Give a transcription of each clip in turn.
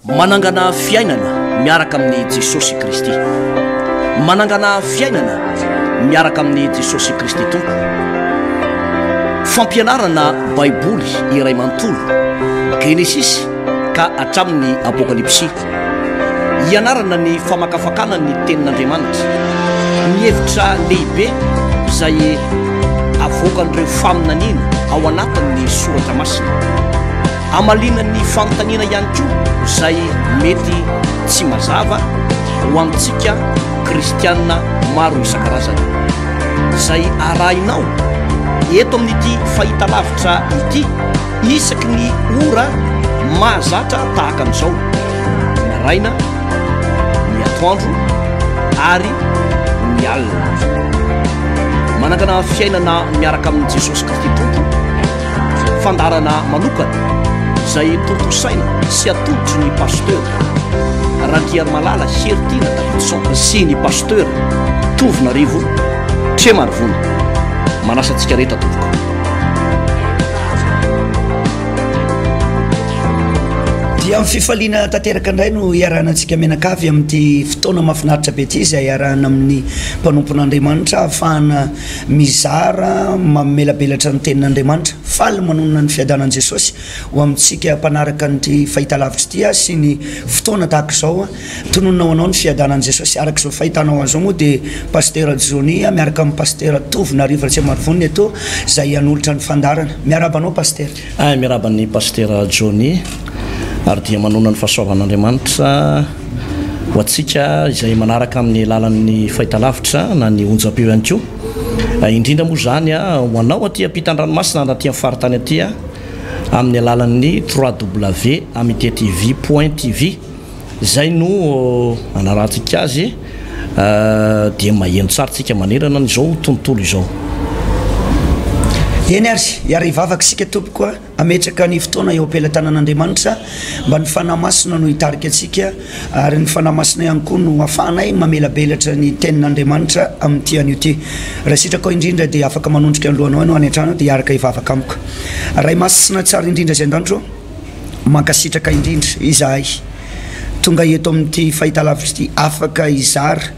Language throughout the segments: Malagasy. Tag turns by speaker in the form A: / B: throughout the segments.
A: Manangana fiainana miaraka amin'i Jesosy Kristy. Manangana fiainana miaraka amin'i Jesosy Kristy Tompo. Fampianarana Baiboly iray manontolo, Genesisy ka hatramin'ny Apokalypsy. Ianarana ny famakafakana ny tenin'Andriamanitra. Ny hevitra lehibe izay avoakan'ireo faminaniana ao anatin'ny soratra masina. Hamaliana ny fanontaniana ihany koa izay mety tsy mazava ho amintsika kristianina maro isan-karazany. Izay arahinao eto amin'ity fahitalavitra ity isaky ny ora mahazatra tahaka an'izao, ny maraina, ny atoandro ary ny alina. Manangana fiainana miaraka amin'i Jesosy Kristy Tompo. fandaharana manokana izay tontosaina sy atolotry ny pasteur Randriarimalala Heritiana Davidson sy ny pasteur Tovonarivo Tremarivony. Manasa antsika rehetra tompoko.
B: Dia amin'ny fifaliana tanteraka indray no iarahana antsika mianakavy amin'ity fotoana mahafinaritra be ity izay iarahana amin'ny mpanompon'Andriamanitra ahafahana Mizara mamelabelatra ny Tenin'Andriamanitra. Faly manonona ny fiadanan'i Jesosy ho amintsika mpanaraka an'ity fahitalavitra ity aho sy ny fotoana tahaka izao. Tononina ho anao ny fiadanan'i Jesosy araka izao fahitanao azy izao moa dia Pasitera Johnny miaraka amin'ny Pasitera Tovo Narivo Ratsiamarivony eto izay hanolotra ny fandaharana. Miarahaba anao Pasitera. Ay miarahaba an'i
A: Pasitera Johnny ary dia manonona ny fahasoavan'Andriamanitra ho antsika izay manaraka amin'ny alalan'ny fahitalavitra na ny onjam-peo ihany koa, indrindra moa izany ho anao aty am-pitan dranomasina na aty amin'ny faritany aty amin'ny alalan'ny www.amitetv.tv. Izay no anarantsika azy dia maheno tsara tsika manerana an' izao tontolo izao.
B: Eny ary, hiara hivavaka isika tompoko a, hametraka ny fotoana eo am-pelatanan' Andriamanitra mba ny Fanahy Masina no hitarika antsika ary ny Fanahy Masina ihany koa no hafahanay mamelabelatra ny tenin' Andriamanitra amin' ity anio ity. Raha sitrakao indrindra dia afaka manondrika ny lohanao ianao any an-trano dia hiaraka hivavaka amiko. Ray Masina tsara indrindra izay an-danitro ô. Mankasitraka indrindra izahay tonga eto amin'ity fahitalavitra ity afaka hizara,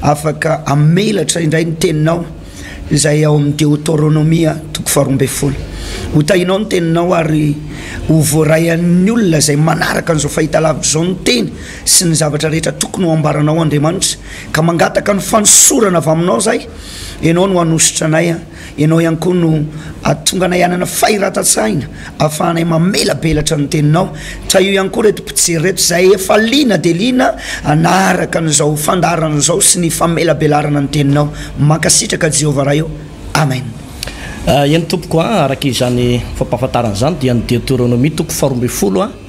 B: afaka hamelatra indray ny teninao izay ao amin'ny Deoteronomia toko faharoa ambin'ny folo. Ho tahinao ny teninao ary ho voaray an'ny olona izay manaraka an'izao fahitalavitra izao ny teny sy ny zavatra rehetra tokony ho ambaranao Andriamanitra. Ka mangataka ny fanosorana avy aminao izahay, ianao no hanosotra anay. Ianao ihany koa no hahatonga anay hanana fahiratan-tsaina ahafahanay mamelabelatra ny Teninao. Trahio ihany koa ireto mpijery ireto izay efa liana dia liana hanaraka an'izao fandaharana izao sy ny famelabelarana ny Teninao. Mankasitraka Jehovah Ray ô! Amen.
A: Eny tompoko a, araka izany fampahafantarana izany dia ny Deoteronomia toko faharoa ambin'ny folo a.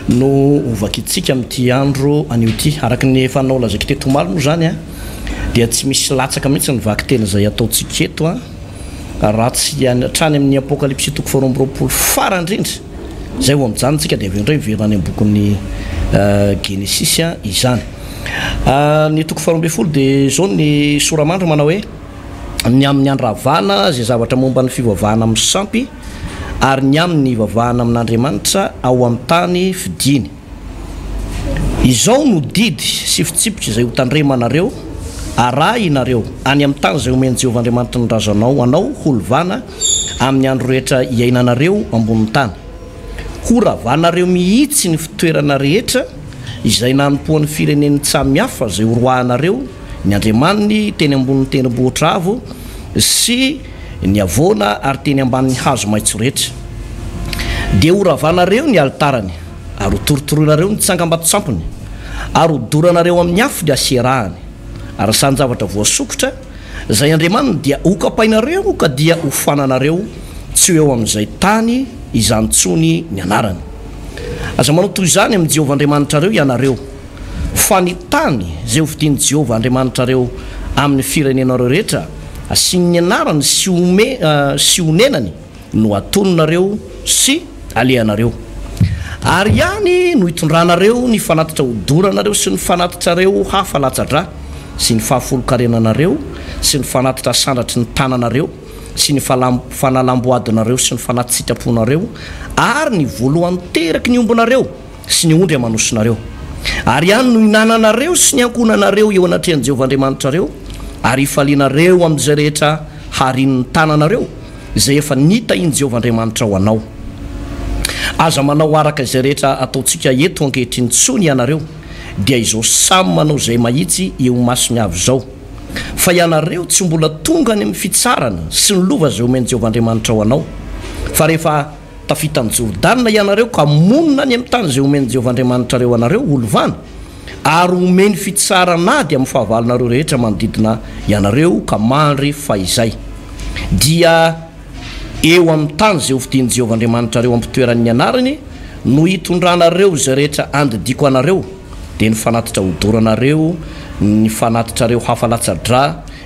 A: no ho vakintsika amin'ity andro anio ity. Araka ny efa nolazaiko teto omaly moa izany dia tsy misy latsaka mihitsy ny vakiteny izay ataontsika eto raha tsy hatrany amin'ny Apokalypsy toko faharoa amby roapolo farany indrindra izay vao mijanona isika dia avy eo indray miverina any am-bokin'ny Genesisy izany. Ah, ny toko faharoa ambin'ny folo dia izao ny soramandry manao hoe ny amin'ny andravana izay zavatra momba ny fivavahana amin'ny sampy ary ny amin'ny hivavahana amin'Andriamanitra ao amin'ny tany fidiany. Izao no didy sy fitsipika izay hotandremanareo, Arahinareo any amin'ny tany izay omen'i Jehovah Andriamanitry ny razanao anao ho lovana amin'ny andro rehetra iainanareo ambonin'ny tany. Horavanareo mihitsy ny fitoerana rehetra izay nanompoan'ny fireneny tsamihafa izay horoahinareo ny andriamaniny teny ambonin'ny tendrombohitra avo sy Niavona ary teny ambanin'ny hazo maitso rehetra. Dia horavanareo ny alitarany, ary hotorotoroinareo ny tsangambato-tsampony, ary hodoranareo amin'ny afo ny Asyerahany, ary izany zavatra voasokitra, izay andriamaniny dia hokapainareo ka dia hofananareo, tsy ho eo amin'izay tany izany intsony ny anarany. Aza manao toy izany amin'i Jehovah Andriamanitrareo ianareo. Fa ny tany izay hovidian'i Jehovah Andriamanitrareo amin'ny firenenareo rehetra, hasiany ny anarany sy sy honenany, no hatononareo sy halehanareo. Ary any no hitondranareo ny fanatitra hodoranareo sy ny fanatitrareo hafa latsa-drà sy ny fahafolon-karenanareo sy ny fanatitra asandratry ny tananareo sy ny fanalam-boadinareo sy ny fanati-tsitraponareo ary ny voalohan-teraky ny ombinareo sy ny ondry aman'osinareo. Ary any no hinananareo sy ny ankohonanareo eo anatrehan'i Jehovah Andriamanitrareo, ary hifalianareo amin'izay rehetra harinin'ny tananareo, izay efa nitahian'i Jehovah Andriamanitrao anao. Aza manao araka izay rehetra ataontsika eto ankehitriny intsony ianareo, dia izao samy manao izay mahitsy eo imasony avy izao. Fa ianareo tsy mbola tonga any amin'ny fitsarana sy ny lova izay omen'i Jehovah Andriamanitrao anao, fa rehefa Tafita an'i Jordana ianareo ka monina any amin'ny tany izay homen'i Jehovah Andriamanitrareo anareo ho lovana, ary homeny fitsaran'ady amin'ny fahavalonareo rehetra manodidina ianareo, ka mandry fahizay. Dia eo amin'ny tany izay hofidian'i Jehovah Andriamanitrareo hampitoeran'ny anarany no hitondranareo izay rehetra andidiako anareo, dia ny fanatitra hodoranareo, ny fanatitrareo hafa latsa-drà,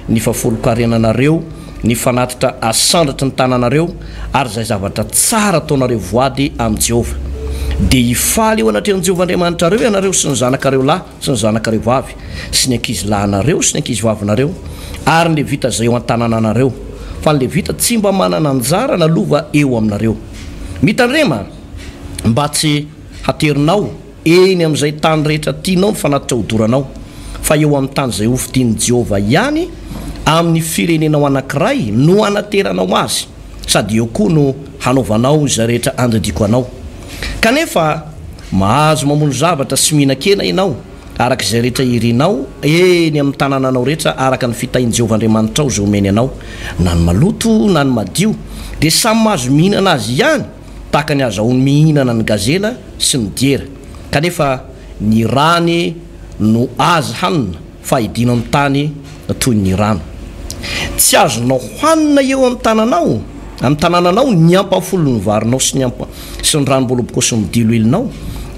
A: ny fafolonkarenanareo, ny fanatitra asandratry ny tananareo, ary izay zavatra tsara ataonareo voady amin'i Jehovah. Dia hifaly eo anatrehan'i Jehovah Andriamanitrareo ianareo sy ny zanakareo lahy sy ny zanakareo vavy sy ny ankizilahinareo sy ny ankizivavinareo ary ny Levita izay eo an-tanànanareo, fa ny Levita tsy mba manana anjara na lova eo aminareo. Mitandrema mba tsy haterinao. Eny amin'izay tany rehetra tianao ny fanatitra hodoranao, fa eo amin'ny tany izay hofidian'i Jehovah ihany, amin'ny firenenao anankiray, no hanateranao azy, sady eo koa no hanaovanao izay rehetra andidiako anao. Kanefa mahazo mamono zavatra sy mihinan-kena ianao, araka izay rehetra irinao, eny amin'ny tanànanao rehetra, araka ny fitahian'i Jehovah Andriamanitrao izay omeny anao, na ny maloto na ny madio, dia samy mahazo mihinana azy ihany. tahaka ny azahoany mihinana ny gazela sy ny diera, kanefa ny rany no azy hanina fa idino amin'ny tany toy ny rano. Tsy azonao hanina eo amin'ny tananao, amin'ny tanananao, ny ampahafolon'ny varinao sy ny ampa, sy ny ranom-bolobokosin'ny diloilinao,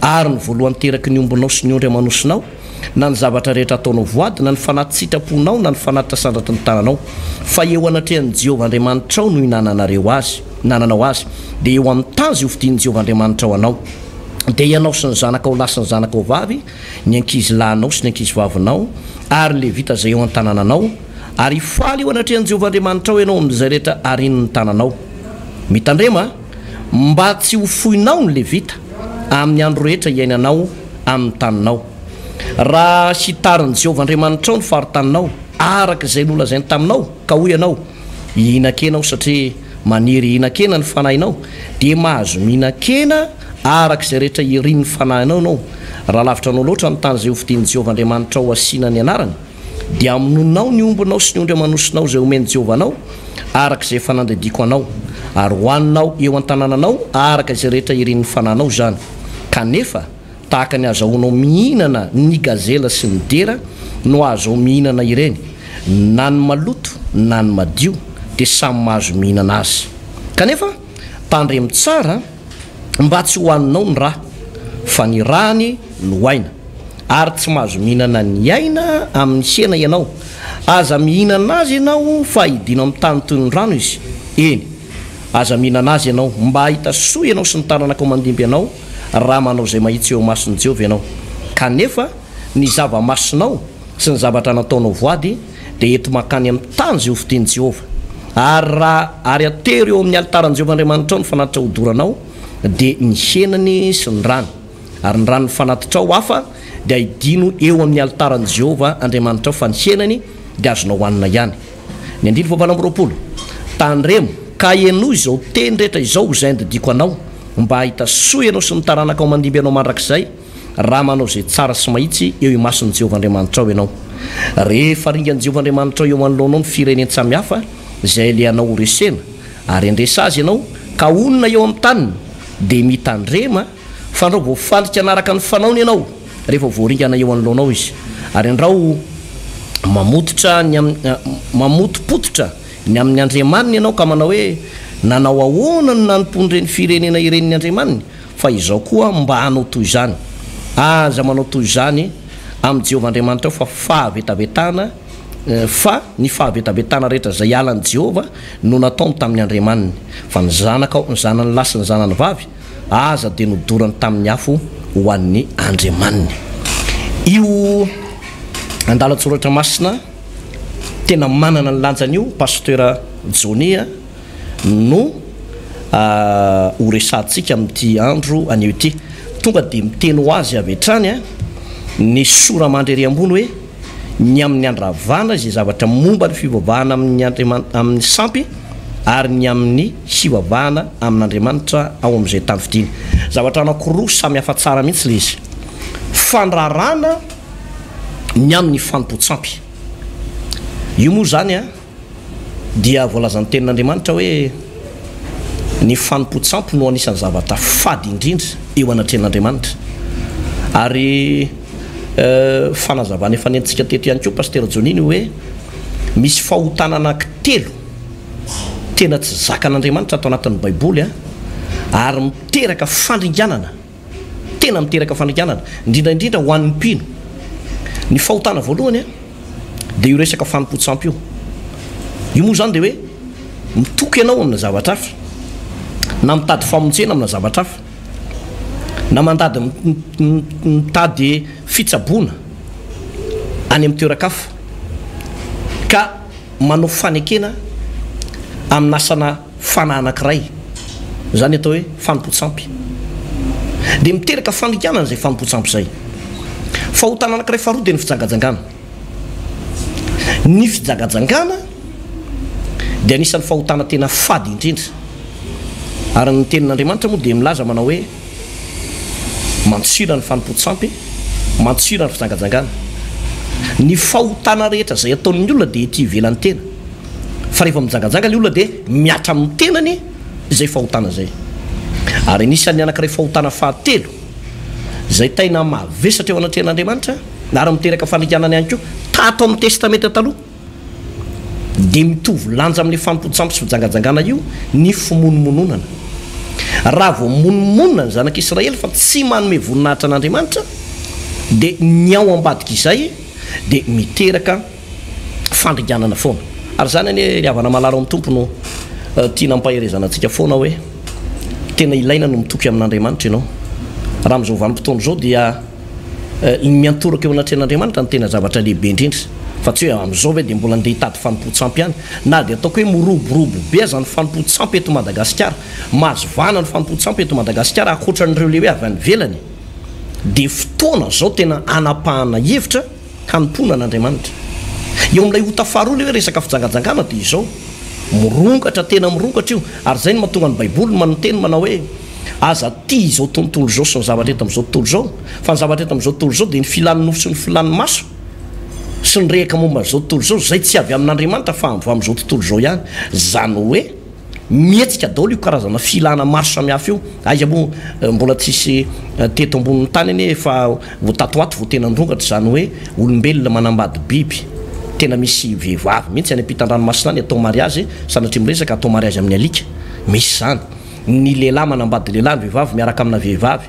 A: ary ny voalohan-teraky ny ombinao sy ny ondry amanosinao, na ny zavatra rehetra ataonao voady, na ny fanahy tsy sitraponao, na ny fanahy tasandratry ny tananao, fa eo anatrehan'i Jehovah Andriamanitrao no inananareo azy, inananao azy, dia eo amin'ny tany izay hofidian'i Jehovah Andriamanitrao anao. Dia ianao sy ny zanakao lahy sy ny zanakao vavy, ny ankizilahinao sy ny ankizivavinao, ary ny Levita izay eo an-tanànanao, ary hifaly eo anatrehan'i Jehovah Andriamanitrao ianao amin'izay rehetra arian'ny tananao. Mitandrema, mba tsy ho foinao ny Levita, amin'ny andro rehetra iainanao, amin'ny taninao. Raha hitarin'i Jehovah Andriamanitrao ny faritaninao, araka izay nolazainy taminao, ka hoy ianao, 'Hihinan-kena aho satria maniry hihinan-kena ny fanahinao', dia mahazo mihinan-kena araka izay rehetra irin'ny fanahinao ianao, raha lavitra anao loatra ny tany izay hofidian'i Jehovah Andriamanitrao hasiana ny anarany. Dia hamonoanao ny ombinao sy ny ondry aman'osinao izay homen'i Jehovah anao, araka izay efa nandidiako anao, ary hohaninao eo an-tanànanao araka izay rehetra irin'ny fananao izany. Kanefa tahaka ny ahazahoanao mihinana ny gazela sy ny dera no hahazoao mihinana ireny, na ny maloto na ny madio, dia samy mahazo mihinana azy. Kanefa tandremo tsara! Mba tsy hohaninao ny rà, fa ny ràny no aina. Ary tsy mahazo mihinana ny aina amin'ny hena ianao. Aza mihinana azy ianao, fa hidina amin'ny tany toy ny rano izy. Eny, aza mihinana azy ianao, mba hahita soa ianao sy ny taranakao mandimby anao, raha manao izay mahitsy eo imason'i Jehovah ianao. Kanefa ny zava-masinao, sy ny zavatra nataonao voady, dia ento mankany amin'ny tany izay hofidian'i Jehovah. Ary raha ary atero eo amin'ny alitaran'i Jehovah Andriamanitrao ny fanatitra hodoranao, dia ny henany sy ny rany, ary ny ran'ny fanatitrao hafa, dia hidino eo amin'ny alitaran'i Jehovah Andriamanitrao, fa ny henany dia azonao hanina ihany. Ny andininy fahavalo amby roapolo. Tandremo, ka henoy izao teny rehetra izao izay andidiko anao, mba hahita soa ianao sy ny taranakao mandimby anao mandrakizay, raha manao izay tsara sy mahitsy eo imason'i Jehovah Andriamanitrao ianao. Rehefa ringan'i Jehovah Andriamanitrao eo anoloanao ny firenen-tsaha mihafa izay alehanao horesena, ary handresy azy ianao ka honina eo amin'ny taniny, dia mitandrema, fandrao voafandrika hanaraka ny fanaony ianao rehefa voaringana eo anoloanao izy, ary andrao mamototra ny amin'ny, mamotopototra ny amin'ny andriamaniny ianao ka manao hoe, Nanao ahoana no nanompoan'ireny firenena ireny ny andriamaniny? Fa izao koa mba hanao toy izany. Aza manao toy izany amin'i Jehovah Andriamanitrao, fa fahavetavetana, fa ny fahavetavetana rehetra izay hiala an'i Jehovah no nataony tamin'ny andriamaniny. Fa ny zanakao, ny zanany lahy sy ny zanany vavy, aza dia nodorany tamin'ny afo ho an'ny andriamaniny. Io andalan-tsoratra masina tena manana ny lanjany io, Pasitera Johnny a! no ho resahantsika amin'ity andro anio ity. Tonga dia miteny ho azy avy hatrany ny sora mandry ery ambony hoe, Ny amin'ny andravana izay zavatra momba ny fivavahana amin'ny andriamanitra, amin'ny sampy, ary ny amin'ny hivavahana amin'Andriamanitra ao amin'izay tany fidiny. Zavatra anankiroa samy hafa tsara mihitsy ilay izy. Fandrarana ny amin'ny fanompoan-tsampy. Io moa izany. dia voalazan'ny Tenin'Andriamanitra hoe, Ny fanompoan-tsampy no anisan'ny zavatra fady indrindra eo anatrehan'Andriamanitra. Ary fanazavana efa nentintsika teto ihany koa Pasitera Johnny ny hoe, misy fahotana anankitelo tena tsy zakan'Andriamanitra ato anatin'ny Baiboly, ary miteraka fandringanana. tena miteraka fanikanana, indrindra indrindra ho an'ny mpino. Ny fahotana voalohany dia io resaka fanompoan-tsampy io. Io moa izany dia hoe mitoky ianao amina zavatra hafa, na mitady famonjena amina zavatra hafa, na mandady mitady fitsaboana any amin'ny toeran-kafa, ka. manao fanekena amin'asana fanahy anankiray, izany atao hoe fanompoan-tsampy, dia miteraka fanikanana izay fanompoan-tsampy izay. Fahotana anankiray faharoa dia ny fijangajangana. Ny fijagajangana dia anisan'ny fahotana tena fady indrindra, ary ny Tenin'Andriamanitra moa dia milaza manao hoe. Mantsina ny fanompoan-tsampy, mantsina ny fijangajangana. Ny fahotana rehetra izay ataon'ny olona dia ety ivelan'ny tena, fa rehefa mijangajanga ny olona dia mihatra amin'ny tenany izay fahotana izay. Ary anisan'ny anankiray fahotana fahatelo izay taina mavesatra eo anatrehan'Andriamanitra ary miteraka fandringanana ihany koa, tato amin'ny Testamenta Taloha, dia mitovy lanja amin'ilay fampotsampo sy fijangajangana io ny fimonomononana. Raha vao monomonona ny zanak'i Israely fa tsy manome voninahitra an'Andriamanitra, dia ny ao ambadik'izay dia miteraka fandringanana foana. Ary izany anie ry havana malala ao amin'ny Tompo no tiana ampaherezana antsika foana hoe tena ilaina ny mitoky amin'Andriamanitra ianao. Raha amin'izao vanim-potoana izao dia. iny miantoraka eo anatrehan'Andriamanitra no tena zavatra lehibe indrindra fa tsy hoe amin'izao ve dia mbola ndeha hitady fanompoan-tsampy ihany na dia ataoko hoe miroborobo be aza ny fanompoan-tsampy eto Madagasikara, mahazo vahana ny fanompoan-tsampy eto Madagasikara ankoatra an'ireo lehibe avy any ivelany dia fotoana izao tena hanapahana hevitra. hanompoana an'Andriamanitra. Eo amin'ilay ota faharoa ilay hoe resaka fijangajangana dia izao, mirongatra tena mirongatra io ary izay no mahatonga ny Baiboly manoteny manao hoe aza tia izao tontolo izao sy ny zavatra eto amin'izao tontolo izao fa ny zavatra eto amin'izao tontolo izao dia ny filan'ny nofo sy ny filan'ny maso sy ny rehaka momba an'izao tontolo izao izay tsy avy amin'Andriamanitra fa avy amin'izao tontolo izao ihany izany hoe Mihetsika daolo io karazana filana maro samihafa io, aiza moa mbola tsisy teto ambonin'ny tany anie efa ho tato ho ato vao tena nirongatra izany hoe olombelona manambady biby, tena misy vehivavy mihitsy any ampitan-dranomasina any atao mariazy, sanatria miresaka, atao mariazy amin'ny alika, misy izany, ny lehilahy manambady lehilahy, ny vehivavy miaraka amina vehivavy,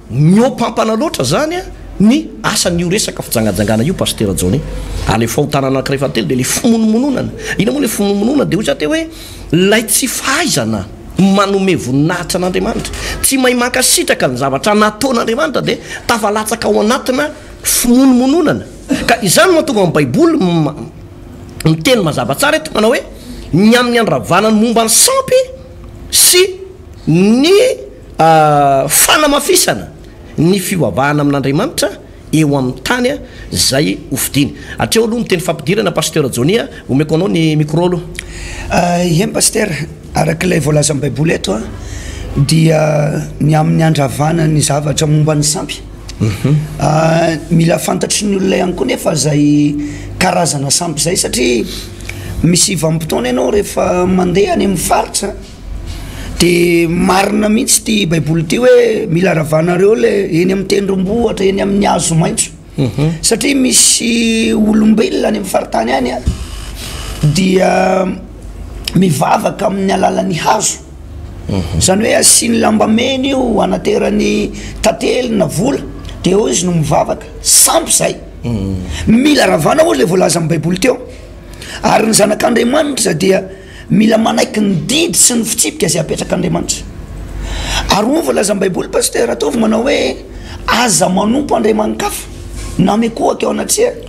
A: Mihoampampana loatra zany ny asan io resaka fijangajangana io Pasitera Johnny a! le fahotana anakiray fahatelo dia le fimonomononana, ina moa le fimonomononana dia hoy za teo hoe lay tsy fahaizana manome voninahitra an'Andriamanitra, tsy mahay mankasitraka ny zavatra nataon'Andriamanitra dia tafalatsaka ao anatina fimonomononana ka izany no mahatonga ny baiboly miteny mazava tsara eto manao hoe ny amin'ny handravana ny momba ny sampy sy ny A Fanamafisana ny fivavahana amin'Andriamanitra eo amin'ny tany izay ho fidiny. Hatreo aloha ny teny fampidirana Pasteur Johnny a, omeko anao ny micro aloha. Eny Pasitera,
B: araka ilay voalazan'ny Baiboly eto a, dia ny amin'ny handravana ny zavatra momba ny sampy, mila fantatry ny olona ihany koa nefa izay karazana sampy izay satria misy vanim-potoana ianao rehefa mandeha any amin'ny faritra, De marina mihintsy ity baiboly ity hoe mila ravanareo le eny amin'ny tendrombohitra eny amin'ny hazo maitso satria misy olombelona any amin'ny faritany any a dia mivavaka amin'ny alalan'ny hazo zany hoe asiany lambamena io anaterany tantely na vola de eo izy no mivavaka sampy zay mila ravana ozy le voalaza amin'ny baiboly teo ary ny zanak'Andriamanitra dia Mila manaiky ny didy sy ny fitsipika izay apetrak'Andriamanitra. Ary hoy ny voalazan'ny Baiboly, Pasitera Ratovo, manao hoe, Aza manompo andriamani-kafa, na mikohaka eo anatrehany,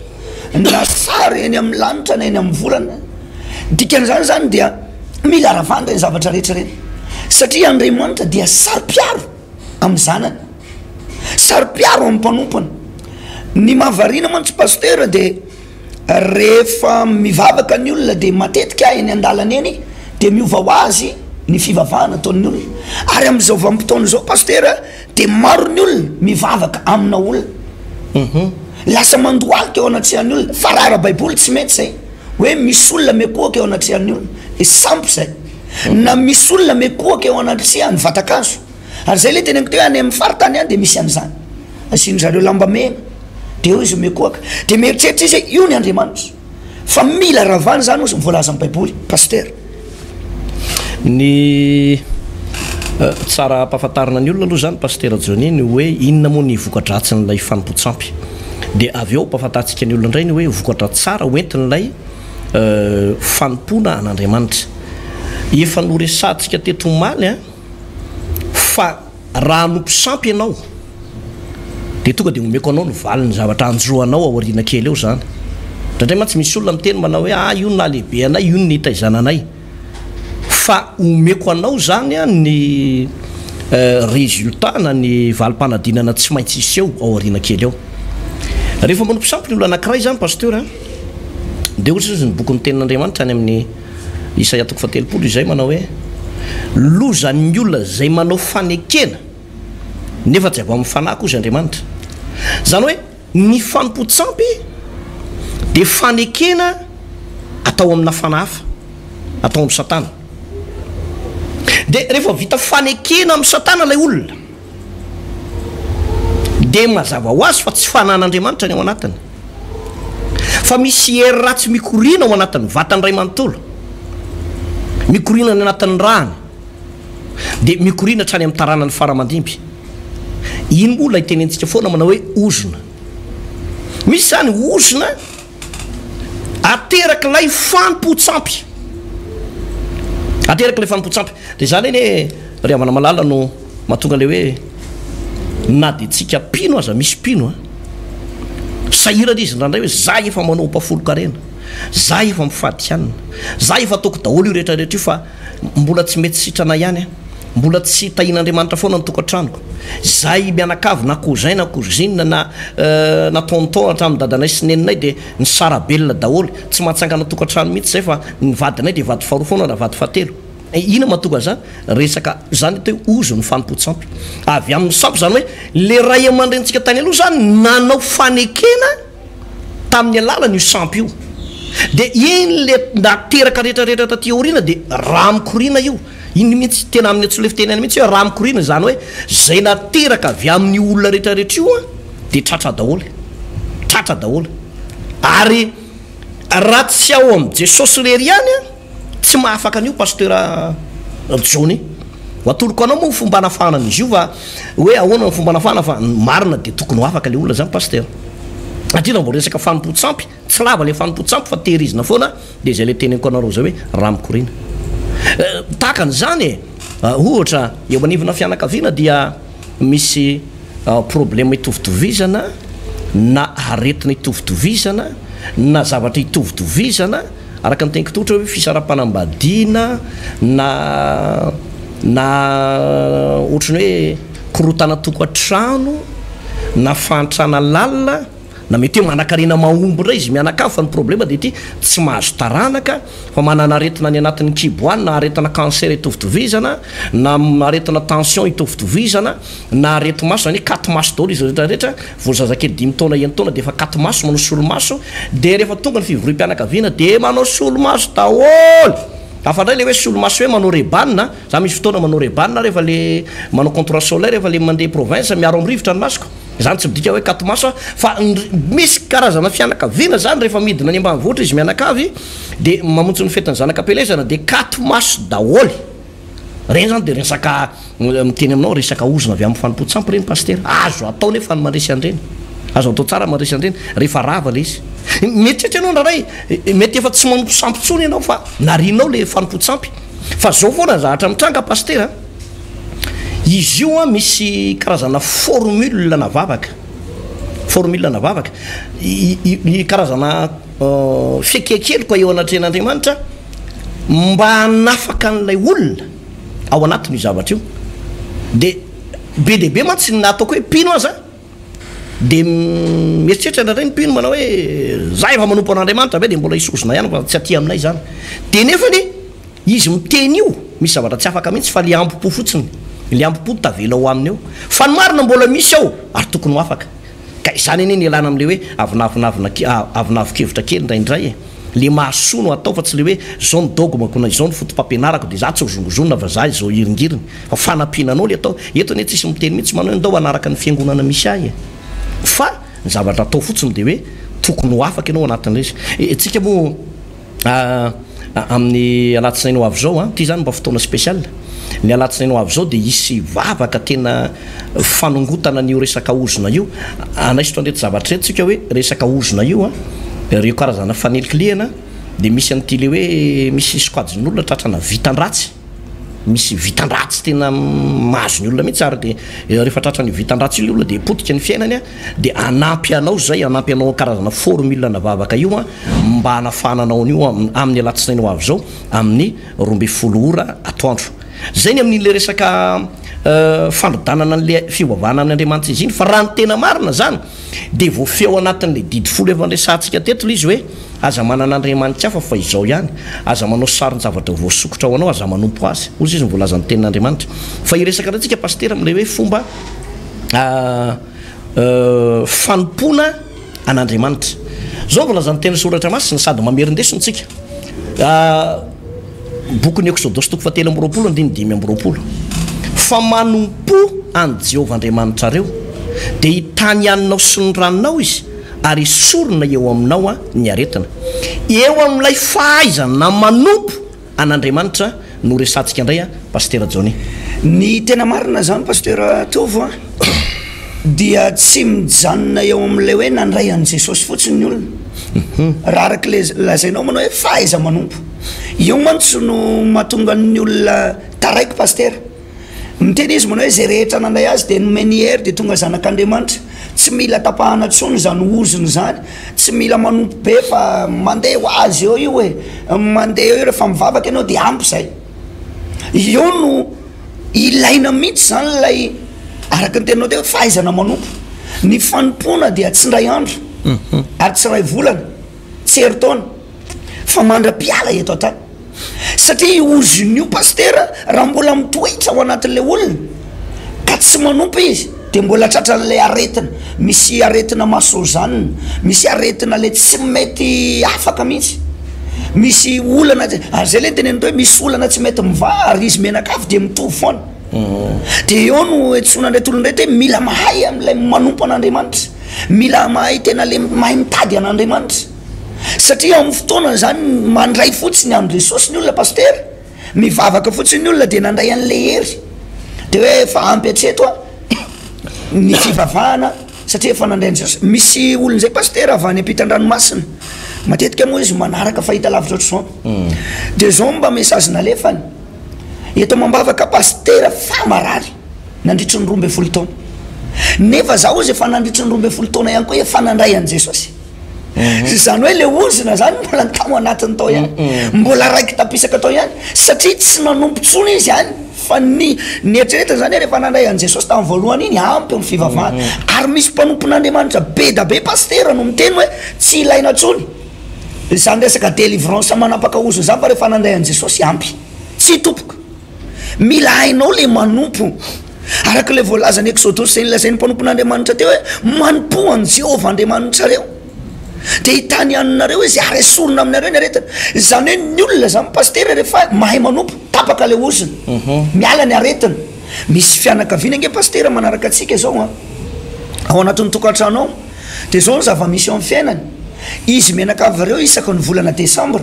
B: na sary eny amin'ny lanitra na eny amin'ny volana. Dikan'izany izany dia mila ravana ireny zavatra rehetra ireny, satria Andriamanitra dia saro-piaro amin'ny zanany, saro-piaro amin'ny mpanompony. Ny mahavariana mantsy Pasitera dia. Rehefa mivavaka ny olona dia matetika eny an-dalana eny dia miova ho azy ny fivavahana ataon'ny olona ary amin'izao vanim-potoana izao Pasitera dia maro ny olona mivavaka amina olona lasa mandohalika eo anatrehan'ny olona fa raha ara-baiboly tsy mety izay hoe misy olona miakohoka eo anatrehan'ny olona dia sampy izay na misy olona miakohoka eo anatrehan'ny vatan-kazo. ary zay le teneniko teo any amin'ny faritany any de misy an'izany, asiany zareo lamba mena de eo izy mikohaka de mieritreritra izy hoe io ny Andriamanitra fa mila ravana zany ozy ny voalaza amin'ny baiboly pasitera. Ny
A: tsara ampahafantarina ny olona aloha zany pasitera Johnny ny hoe inona moa ny voka-dratsin'ilay fanompoan-tsampy de avy eo ampahafantarintsika ny olona indray ny hoe vokatra tsara hoentin'ilay fanompoana an'Andriamanitra efa noresahantsika teto omaly an. Fa raha hanompo sampy ianao, dia tonga dia omeko anao ny valin'ny zavatra hanjo anao aoriana kely eo izany. Indraindray mantsy misy olona miteny manao hoe, ah, io no nahalehibe anay, io no nitaizana anay. Fa omeko anao izany ny résultat na ny valim-panadinana tsy maintsy hiseho aoriana kely eo. Rehefa manompo sampy ny olona anankiray izany, Pasteur an, dia hoy izao ny bokin'ny Tenin'Andriamanitra any amin'ny. Isaia toko fahatelopolo izay manao hoe, Lozan'ny olona izay manao fanekena, nefa tsy avy amin'ny fanahy kosa Andriamanitra. Izany hoe ny fanompoan-tsampy dia fanekena atao amina fanahy hafa, atao amin'i Satana. Dia rehefa vita fanekena amin'i Satana ilay olona, dia mazava ho azy fa tsy fanan'Andriamanitra ny ao anatiny, fa misy hery ratsy mikoriana ao anatin'ny vatany iray manontolo, mikoriana any anatin'ny rany, dia mikoriana hatrany amin'ny taranany faramandimby. Iny moa ilay tenentsika foana manao hoe ozona. Misy izany ozona Aterak'ilay fanompoan-tsampy. Aterak'ilay fanompoan-tsampy. Dia izany anie ry havana malala no mahatonga ilay hoe na dia tsika mpino aza misy mpino a. Sahirana izy indraindray hoe za efa manao mpafolon-karena, za efa mifadihanina, za efa ataoko daholo io rehetra rehetra io fa mbola tsy mety sitrana ihany a. Mbola tsy tahian'Andriamanitra foana ny tokantranoko. Izahay mianakavy na cousin na cousine na na tonton hatramin'ny dadanay sy neninay dia nisara-belona daholo. Tsy mahatsangana tokantrano mihitsy izahay fa ny vadinay dia vady faharoa foana na vady fahatelo. Inona mahatonga izany? Resaka izany atao hoe ozon'ny fanompoan-tsampy. Avy amin'ny sampy izany hoe ilay ray aman-drenintsika tany aloha izany nanao fanekena. Tamin'ny alalan'io sampy io dia iny le ndaty teraka rehetra rehetra taty aoriana dia rà mikoriana io, iny mihitsy tena amin'ny antsoin'ilay fiteny any mihitsy hoe rà mikoriana, izany hoe izay nateraka avy amin'io olona rehetra rehetra io an dia tratra daholo, tratra daholo, ary raha tsy ao amin'i Jesosy irery ihany an, Tsy mahafaka an'io Pasteur Johnny. Ho atoloko anao moa ny fomba hanafahana an'izy io fa hoe ahoana ny fomba hanafahana fa ny marina dia tokony ho afaka ilay olona izany Pasteur. Satria raha vao resaka fanompoan-tsampy, tsy lava ilay fanompoan-tsampy fa tehirizina foana dia izay ilay teneniko anareo izay hoe raha mikoriana. Tahaka an'izany e, ohatra eo anivona fianakaviana dia misy problème itovitovizana na aretina itovitovizana na zavatra itovitovizana, Araka ny teniko tsotra hoe fisarapanambadiana na na ohatran'ny hoe korotana tokantrano na fahantrana lalina na mety hoe manakarena mahomby indray izy mianakavy fa ny problema dia ity tsy mahazo taranaka fa manana aretina any anatin'ny kibo any na aretina cancer itovitovizana na aretina tension itovitovizana na areti maso zany hoe katy maso daholo izy rehetra rehetra vao zazakely dimy taona enina taona dia efa katy maso manao solomaso dia rehefa tonga ny fivoria mpianakaviana dia manao solomaso daholo hafa indray le hoe solomaso hoe manao rebanina za misy fotoana manao rebanina rehefa le manao contour solaire rehefa le mandeha province miaro amin'ny rivotra ny masoko zany tsy midika hoe katy maso aho fa misy karazana fianakaviana zany rehefa midina any ambanivohitra izy mianakavy dia mamonjy ny fetin'ny zanaka am-pielezana dia katy maso daholo Ireny zany dia resaka miteny aminao resaka ozona avy amin'ny fanompoan-tsampy ireny Pasitera. Azo atao nefa ny mandresy an'ireny. Azo atao tsara mandresy an'ireny rehefa rava ilay izy. Mieritreritra ianao indraindray, mety efa tsy manompo sampy intsony ianao fa narianao ilay fanompoan-tsampy. Fa izao foana ny zavatra mitranga Pasitera a, izy io an misy karazana formule na vavaka, formule na vavaka, ny karazana. Fihiakeloka eo anatrehan'Andriamanitra mba hanafaka an'ilay olona ao anatin' io zavatra io. Dia be dia be mantsy ny ataoko hoe mpino aza dia mieritreritra indraindray ny mpino manao hoe za efa manompo an'Andriamanitra ve dia mbola hisozona ihany fa tsy aty aminay izany. Dia nefany izy miteny io misy zavatra tsy afaka mihitsy fa le hambom-po fotsiny, le hambom-po no tavela ao aminy eo. Fa ny marina mbola misy ao ary tokony ho afaka. Ka izany anie no ialana amin'ilay hoe avonavonavona ke-, avonavon-kevitra kely indraindray e! Ilay mahasoa no atao fa tsy ilay hoe izao no dogme-ko na izao no foto-pampianarako dia izaho tsy hozongozonina fa izaho izao hiringiriny. Fa fanampiana anao ilay atao. Eto anie tsisy miteny mihitsy manao hoe ndao hanaraka ny fiangonana misy ahy e! Fa ny zavatra atao fotsiny dia hoe tokony ho afaka ianao ao anatin'ilay izy. Isika moa. Amin'ny alatsinainy ho avy izao an, ity zany mba fotoana special, ny alatsinainy ho avy izao dia hisy vavaka tena fanongotana an'io resaka ozona io, hanaisotra an'ireto zavatra ireto tsika hoe resaka ozona io an, ireo karazana fanilikilihana dia misy an'ity le hoe misy sokajin'olona tratrana vitan-dratsy. misy vitan-dratsy tena mahazo ny olona mihitsy ary dia eh, rehefa tratra ny vitan-dratsy ilay olona dia potika ny fiainany a dia hanampy anao izay hanampy anao karazana formule na vavaka io a mba hanafahana anao an'io amin'ny alatsinainy ho avy izao amin'ny roa ambin'ny folo ora atoandro zay ny amin'ilay resaka eh, fandrodanana an'ilay fiovavanana amin'ny andriamanitra izy iny fa raha ny tena marina zany dia voafeo anatin'ilay didy folo efa nresahantsika teto ilay izy hoe Aza manana andriamanitsy hafa fa izao ihany. Aza manao saron-javatra voasokitra ho anao, aza manompo azy. Hoy Jesosy no voalazan'ny Tenin'Andriamanitra. Fa hiresaka indray tsika Pasitera amin'ilay hoe fomba fanompoana an'Andriamanitra. Izao no voalazan'ny Teny Soratra Masina sady mamerin-deso ny tsika. Bokin'ny Eksodosy toko fahatelo amby roapolo andininy dimy amby roapolo Fa manompo an'i Jehovah Andriamanitrareo, dia hitany anao sy ny ranonao izy, ary hesorina eo aminao ny aretina. Eo amin'ilay fahaizana manompo an'Andriamanitra no resahantsika indray Pasitera Johnny. Ny tena
B: marina izany Pasitera Tovo a, dia tsy mijanona eo amin'ilay hoe nandray an'i Jesosy fotsiny ny olona, raha araka ilay lazainao manao hoe fahaiza-manompo. Io mantsy no mahatonga ny olona taraiky Pastera. Miteny izy manao hoe izay rehetra nandray azy dia nomeny hery dia tonga zanak'Andriamanitra. Tsy mila tapahana intsony izany ozony izany, tsy mila manompo be fa mandeha ho azy eo io e, mandeha eo io rehefa mivavaka ianao dia ampy izay. Io no ilaina mihitsy izany ilay araka ny teninao teo hoe fahaizana manompo. Ny fanompoana dia tsy indray andro ary tsy iray volana. Tsy herintaona fa mandra-piala eto an-tany. Satria io ozona io Pasitera raha mbola mitoetra ao anatin'ilay olona ka tsy manompa izy dia mbola tratran'ilay aretina. Misy aretina masonjanona, misy aretina ilay tsy mety afaka mihitsy, misy olana tsy, ary izay ilay teneniko hoe misy olana tsy mety mivaha ary izy mianakavy dia mitovy foana. Dia eo no iantsoana an'ireto olona ireto hoe mila mahay an'ilay manompo an'Andriamanitra. Mila mahay tena le mahay mitady an'Andriamanitra satria amin'ny fotoana izany mandray fotsiny an'i Jesosy ny olona Pasitera, mivavaka fotsiny ny olona dia nandray an'ilay hery de hoe efa ampy hatreto a ny fivavahana satria efa nandray an'i Jesosy, misy olona zay Pasitera avy any ampitan-dranomasina matetika moa izy manaraka fahita lavitra ohatr'izao de zao mba message nalefany, eto amam-bavaka Pasitera fa marary. Nandritry ny roa ambin'ny folo taona. Nefa za ozy efa nandritry ny roa ambin'ny folo taona ihany koa efa nandray an'i Jesosy. Izany hoe le ozona zany mbola ny tao anatiny tao ihany. Mbola raiki-tapisaka tao ihany. Satria tsy nanompo tsony izy any fa ny ny eritreretiny zany hoe refa nandray an'i Jesosy tamin'ny voalohany iny ampy ny fivavahana. Ary misy mpanompon'Andriamanitra be da be Pasitera no miteny hoe tsy ilaina tsony izany resaka delivrance manapaka ozona zany fa refa nandray an'i Jesosy ampy. Tsy topoko. Mila hainao le manompo. Araka ilay voalaza ny Exodosy izay nilazain'ny mpanompon'Andriamanitra teo hoe manompoa an'i Jehovah Andriamanitrareo dia hitany haninareo izy ary esorina aminareo ny aretina. Izany hoe ny olona izany pasitera rehefa mahay manompo, tapaka ilay ozona, mhm. miala ny aretina. Misy fianakaviana ange pasitera manaraka antsika izao a. Ao anatin'ny tokantrano ao dia izao ny zava-misy ao amin'ny fiainany. Izy mianakavy ireo isaka ny volana desambra.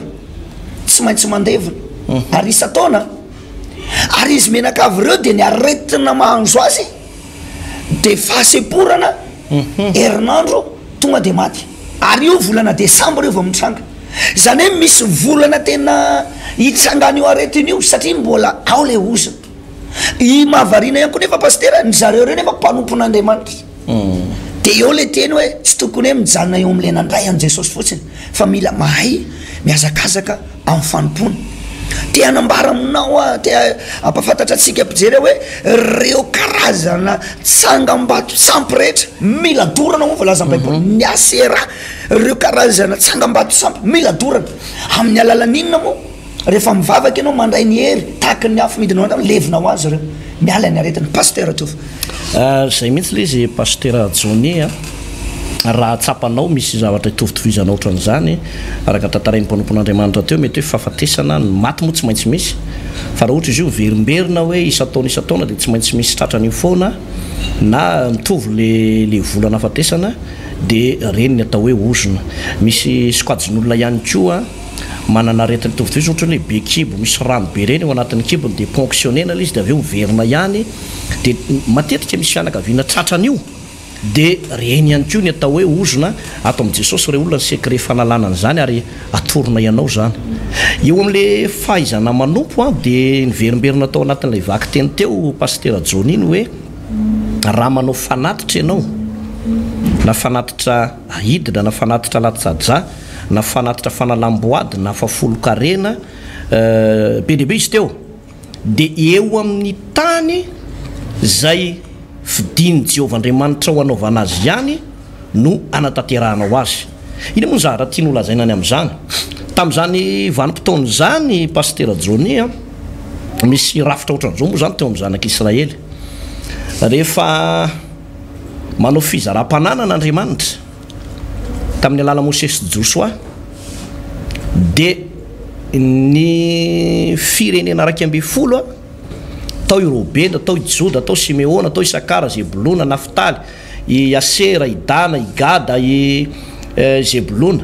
B: tsy maintsy mandevina ary isan-taona ary izy menakavy ireo dia ny aretina mahanzo azy dia fahasemporana herinandro tonga dia maty ary io volana desambra io vao mitranga izany hoe misy volana tena hitsangana io aretina io satria mbola ao le ozona Ny mahavariana ihany koa nefa Pasitera, ny zareo ireo nefa mpanompon'Andriamanitra. Dia eo ilay teny hoe tsy tokony hoe mijanona eo amin'ilay nandray an'i Jesosy fotsiny fa mila mahay mihazakazaka amin'ny fanompoana. Te hanambara aminao aho, te hampahafantatra antsika mpijery aho hoe ireo karazana tsangambato sampy rehetra mila dorana hoy ny voalazan'ny Baiboly, ny Asera, ireo karazana tsangambato sampy mila dorana. Amin'ny alalan'inona moa? Rehefa mivavaka ianao mandray ny hery tahaky ny afo midina ao anao levona ho azy ireo miala ny aretina Pasteur Tovo. Zay mihitsy
A: le izy Pasitera Johnny a! Raha tsapanao misy zavatra itovitovizana otran'izany, araka tantarain'ny mpanompon'Andriamanitra teo, mety hoe fahafatesana, ny maty moa tsy maintsy misy, fa raha ohatra izy io miverimberina hoe isan-taona isan-taona dia tsy maintsy misy tratra an'io foana, na mitovy le le vola nahafatesana dia reny ny atao hoe ozona. Misy sokajin'olona ihany koa. Manana aretina mitovy toy izany ohatra hoe be kibo misy rano be ireny ao anatin'ny kibony dia ponctionner-na ilay izy dia avy eo miverina ihany dia matetika misy fianakaviana tratra an'io dia ireny ihany koa ny atao hoe ozona ato amin'i Jesosy ireo olona ny secret fanalana an'izany ary atorina ianao izany eo amin'ilay fahaizana manompo an dia niverimberina tao anatin'ilay vakiteny teo Pasitera Johnny ny hoe raha manao fanatitra ianao na fanatitra ahidina na fanatitra latsa-dra na fanatitra fanalam-boady na fafolon-karena be dia be izy teo dia eo amin'ny tany izay fidin'i Jehovah Andriamanitrao hanaovana azy ihany no hanatanterahanao azy. Inona moa ny zavatra tiany holazaina any amin'izany? Tamin'izany vanim-potoana izany, Pasitera Johnny a, misy rafitra ohatran'izao moa izany teo amin'ny zanak'Israely. Rehefa Manao fizaram-pananana Andriamanitra tamin'ny alalan'i Mosesy sy Josoa, dia ny firenena iraika ambin'ny folo, tao i Robena, tao i Joda, tao Simeona, tao Isakara, Zebolona, Naftaly, i Asera, i Dana, i Gada, i Zebolona,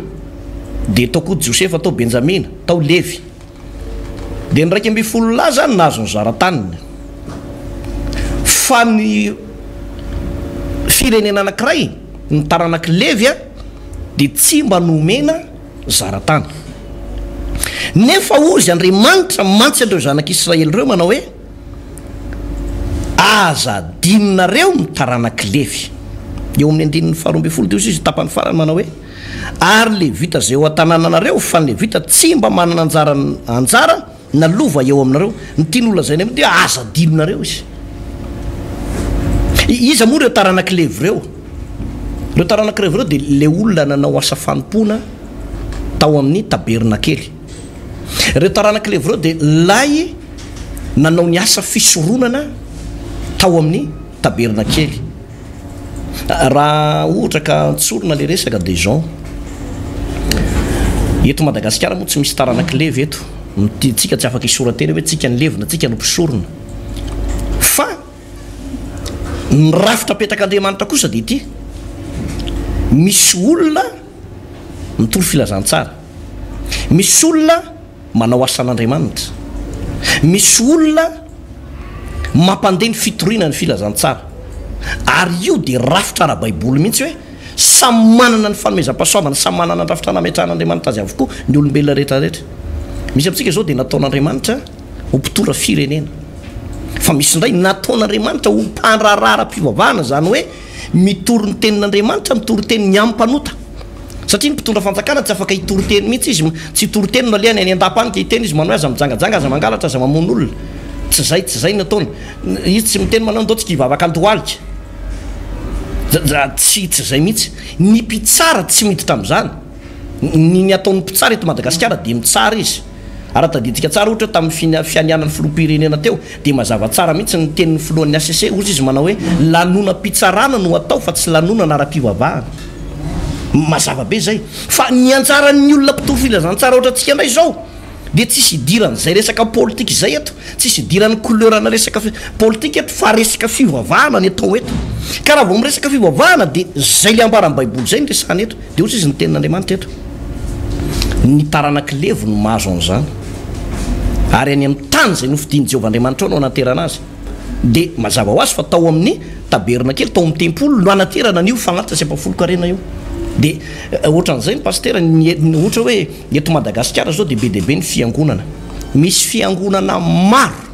A: dia tao koa Josefa, tao Benjamina, tao Levy. Dia ny iraika ambin'ny folo lahy izany nahazo ny zara-taniny. Fa ny firenena anankiray, ny taranak'i Levy, dia tsy mba nomena zara-tany. Nefa hozy Andriamanitra mantsy an'ireo zanak'Israely ireo manao hoe, Aza adinonareo ny taranak'i Levy. Eo amin'ny andininy faharoa ambin'ny folo dia hoy izy, tapany farany, manao hoe. Ary Levita izay ao an-tanànanareo, fa ny Levita tsy mba manana anjara anjara na lova eo aminareo. Ny tiany holazaina eo dia aza adinonareo izy. Iza moa ireo taranak'i Levy ireo? Ireo taranak'i Levy ireo dia ilay olona nanao asa fanompoana tao amin'ny tabernakely. Ireo taranak'i Levy ireo dia ilay nanao ny asa fisoronana tao amin'ny tabernakely. Raha ohatra ka tsorina le resaka de izao, eto Madagasikara moa tsy misy taranak'i Levy eto, tsika tsy afaka hisora-tena hoe tsika ny levy na tsika no mpisorona. Fa ny rafitra apetak'Andriamanitra kosa dia ity, misy olona mitory filazantsara, misy olona. Manao asan'Andriamanitra. Misy olona mampandeha ny fitoriana ny filazantsara, ary io dia rafitra ara-baiboly mihitsy hoe samy manana ny fanomezam-pahasoavana, samy manana ny rafitra nametrahan'Andriamanitra azy avokoa ny olombelona rehetra rehetra. Misy amintsika izao dia nataon'Andriamanitra ho mpitondra firenena, fa misy indray nataon'Andriamanitra ho mpandraharaha ara-pivavahana, izany hoe, Mitory ny tenin'Andriamanitra, mitory teny ny amin'ny mpanota. Satria ny mpitondra fanjakana tsy afaka hitory teny mihitsy izy, tsy hitory teny no alehany, any an-dapa any dia hiteny izy, manohy aza mijangajanga, aza mangalatra, aza mamono olona. Tsy izay, tsy izay no ataony. Izy tsy miteny manao ny daotsika hivavaka an-tohalika. Tsy, tsy izay mihitsy. Ny mpitsara tsy miditra amin'izany. Ny, ny ataon'ny mpitsara eto Madagasikara dia mitsara izy. Raha tadidintsika tsara ohatra tamin'ny fianianan'ny filoham-pirenena teo dia mazava tsara mihitsy ny tenin'ny filohan'ny HCC ozy izy manao hoe lanonam-pitsarana no atao fa tsy lanonana ara-pivavahana. Mazava be izay. Fa ny anjaran'ny olona mpitory filazantsara ohatra antsika indray izao dia tsisy idiran'izay resaka politika izay eto, tsisy idiran'ny couleurana resaka politika eto fa resaka fivavahana ny atao eto. Ka raha vao miresaka fivavahana dia izay le ambara ny baiboly izay no resahana eto. Dia hoy izy, Ny Tenin'Andriamanitra eto, Ny taranak'i Levy no mahazo an'izany, ary any amin'ny tany izay nofidin'i Jehovah Andriamanitrao no hanaterana azy. Dia mazava ho azy fa tao amin'ny tabernakely, tao amin'ny tempoly, no hanaterana an'io fagnatitra sy ampahafolon-karena io. Dia ohatran'izay ny Pasitera, ny e- ohatra hoe eto Madagasikara izao dia be dia be ny fiangonana. Misy fiangonana maro.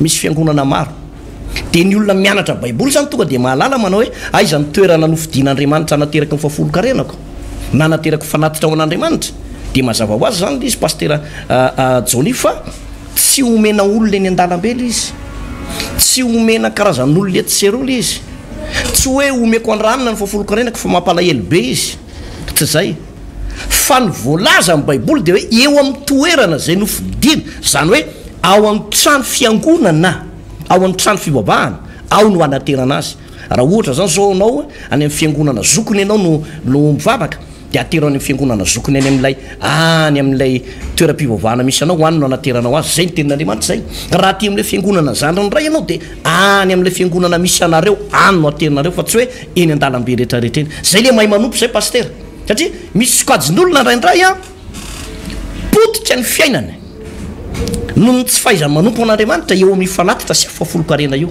A: Misy fiangonana maro, dia ny olona mianatra Baiboly izany tonga dia mahalala manao hoe, Aiza no toerana nofidin'Andriamanitra hanateraka ny fahafolon-karenako? na hanaterako fanatitra ho an'Andriamanitra? Dia mazava ho azy izany ilay izy Pasitera Johnny fa tsy omena olona eny an-dalambe ilay izy, tsy omena karazan'olona etsy sy eroa ilay izy, tsy hoe omeko andranina ny fahafolon-karenako fa mampalahelo be izy, tsy izay. Fa ny voalaza amin'ny Baiboly dia hoe eo amin'ny toerana izay nofidina, izany hoe ao amin'ny trano fiangonana, ao amin'ny trano fivavahana, ao no hanaterana azy. Raha ohatra izany izao ianao any amin'ny fiangonana zokiny ianao no no mivavaka, dia atero any amin'ny fiangonana zokiny any amin'ilay any amin'ilay toeram-pivavahana misy anao, any no hanateranao azy. Izay ny tenin'Andriamanitra izay. Raha aty amin'ilay fiangonana zandriny indray ianao dia any amin'ilay fiangonana misy anareo, any no aterinareo fa tsy hoe eny an-dalambe rehetra rehetra eny. Izay ilay mahay manompo izay pasitera. satria misy sokajin'olona indraindray an, potika ny fiainany noho ny tsy fahaizany manompo an'Andriamanitra eo amin'io fanatitra sy afoafolon-karena io,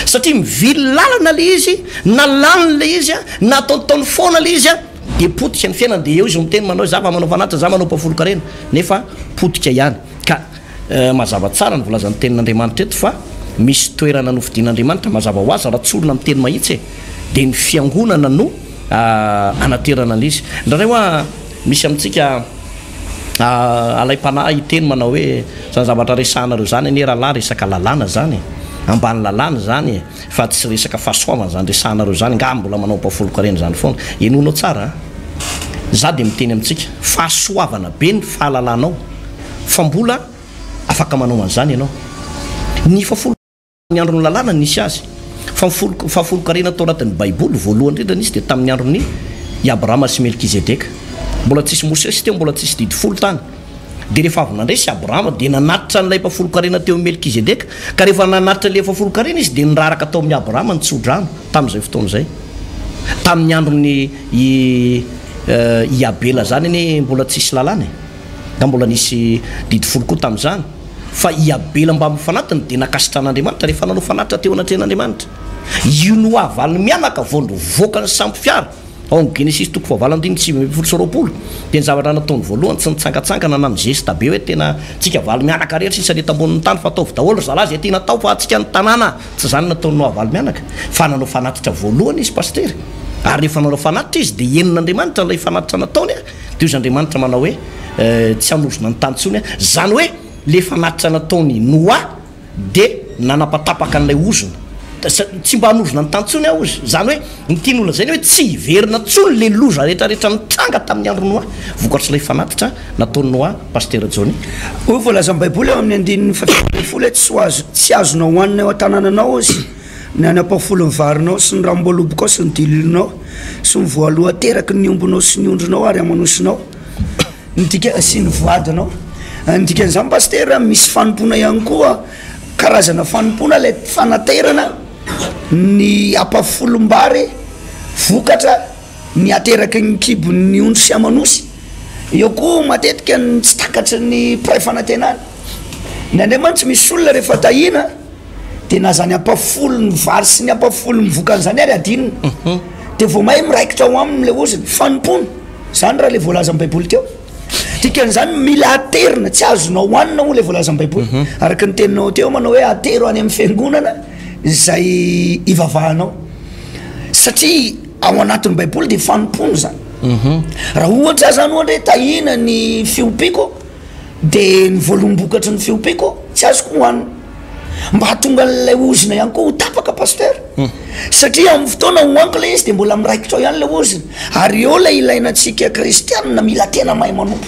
A: satria mivily lalana ilay izy na lany ilay izy an, na ataontaony foana ilay izy an, dia potika ny fiainany, dia eo izy miteny manao hoe za fa manao fanatitra, za manao apoafolon-karena, nefa potika ihany ka. Mazava tsara ny volazan'ny tenin'Andriamanitra eto fa misy toerana nofidin'Andriamanitra, mazava ho azy raha tsorina miteny mahitsy e, dia ny fiangonana no anaterana an'izy. Indraindray hoa misy amintsika alaim-panahy hiteny manao hoe, izany zavatra resahanareo izany anie rahalahy resaka lalàna izany e, ambany lalàna izany e, fa tsy resaka fahasoavana izany resahanareo izany, angaha mbola manao ampahafolon-karena izany foana? Henoinao tsara a! Izaho dia miteny amintsika, fahasoavana be ny fahalalanao, fa mbola afaka manao an'izany ianao. Ny fahafolonkarena tamin'ny andron'ny Lalàna no nisy azy, fa ny fahafolonkarena tao anatin'ny Baiboly, voalohany indrindra nisy dia tamin'ny andron'i Abrahama sy Melkizedeka. Mbola tsisy Mosesy teo, mbola tsisy Didy Folo tany. Dia rehefa avy nandresy Abrahama, dia nanatitra an'ilay mpahafolonkarena teo amin'i Melkizedeka, ka rehefa nanatitra ilay fahafolonkarena izy, dia niraraka tao amin'i Abrahama ny tsodrano, tamin'izay fotoana izay. Tamin'ny andron'i Abela izany anie mbola tsisy Lalàna e! Ka mbola nisy didy folo koa tamin'izany. Fa i Abela mba mifanatona dia nankasitran'Andriamanitra rehefa nanao fanatitra teo anatrehan'Andriamanitra. Io no havaliny mianaka vao nivoaka ny sampy fiara. Ao amin'ny Genesisy toko fahavalo andininy sivy ambin'ny folo sy roapolo dia ny zavatra nataony voalohany tsy nitsangantsangana na nizesta be hoe tena tsika havaly mianaka rehetra sisa ny eto ambonin'ny tany fa ataovy daholo ry zalahy izay tiana atao fa antsika ny tanàna tsy izany no nataony no havaly mianaka fa nanao fanatitra voalohany izy pasitera ary rehefa nanao fanatitra izy dia henon'Andriamanitra ilay fanatitra nataony Dia hoy izy Andriamanitra manao hoe tsy hanorozona ny tany intsony aho, izany hoe ilay fanatitra nataon'i Noa dia nanapatapaka an'ilay ozona, tsy mba hanorozona ny tany intsony aho hozy, izany hoe ny tiany holazaina hoe tsy hiverina intsony ilay loza rehetrarehetra nitranga tamin'ny andron'i Noa vokatr'ilay fanatitra nataon'i Noa Pasitera Johnny. Hoy ny voalazan'ny
B: Baiboly ao amin'ny andininy fahaefatra ambin'ny folo hoe tsy ho azo, tsy azonao hohanina eo an-tanananao hozy. Ny any am-pafolo ny varinao sy ny ranom-boalobokao sy ny dililinao sy ny voalohan-teraky ny ombinao sy ny ondrinao ary amanosinao, ny dika, sy ny voadinao. Ny dikan'izany Pasitera, misy fanompoana ihany koa, karazana fanompoana ilay fanaterana ny ampafolom-bary vokatra ny ateraky ny kibon'ny ondry sy amanosy. Eo koa matetika ny tsy takatry ny mpiray fanantenana. Ny anay mantsy misy olona rehefa tahiana. de na zany ampafolony vary sy ny ampafolony vokany zany ary adinina mhm. de vao mahay miraikitra ao aminy le oziny fanompony zany raha le voalazan'ny baiboly teo dikan'izany mila aterina tsy azona hohanina ho le voalazan'ny baiboly mhm. araka ny teninao teo manao hoe atero any amin'ny fiangonana zay ivavahanao satria ao anatin'ny baiboly de fanompony zany mhm. raha ohatra zany ohatra hoe tahina ny fiompiako de ny voalombokatry ny feompeko tsy azoko hohanina mba hatonga an'ilay ozona ihany koa ho tapaka pasteur satria amin'ny fotoana hohaniko ilay izy de mbola miraikitra ao ihany ilay ozona ary eo ilay ilaina antsika kristianina mila tena mahay manompo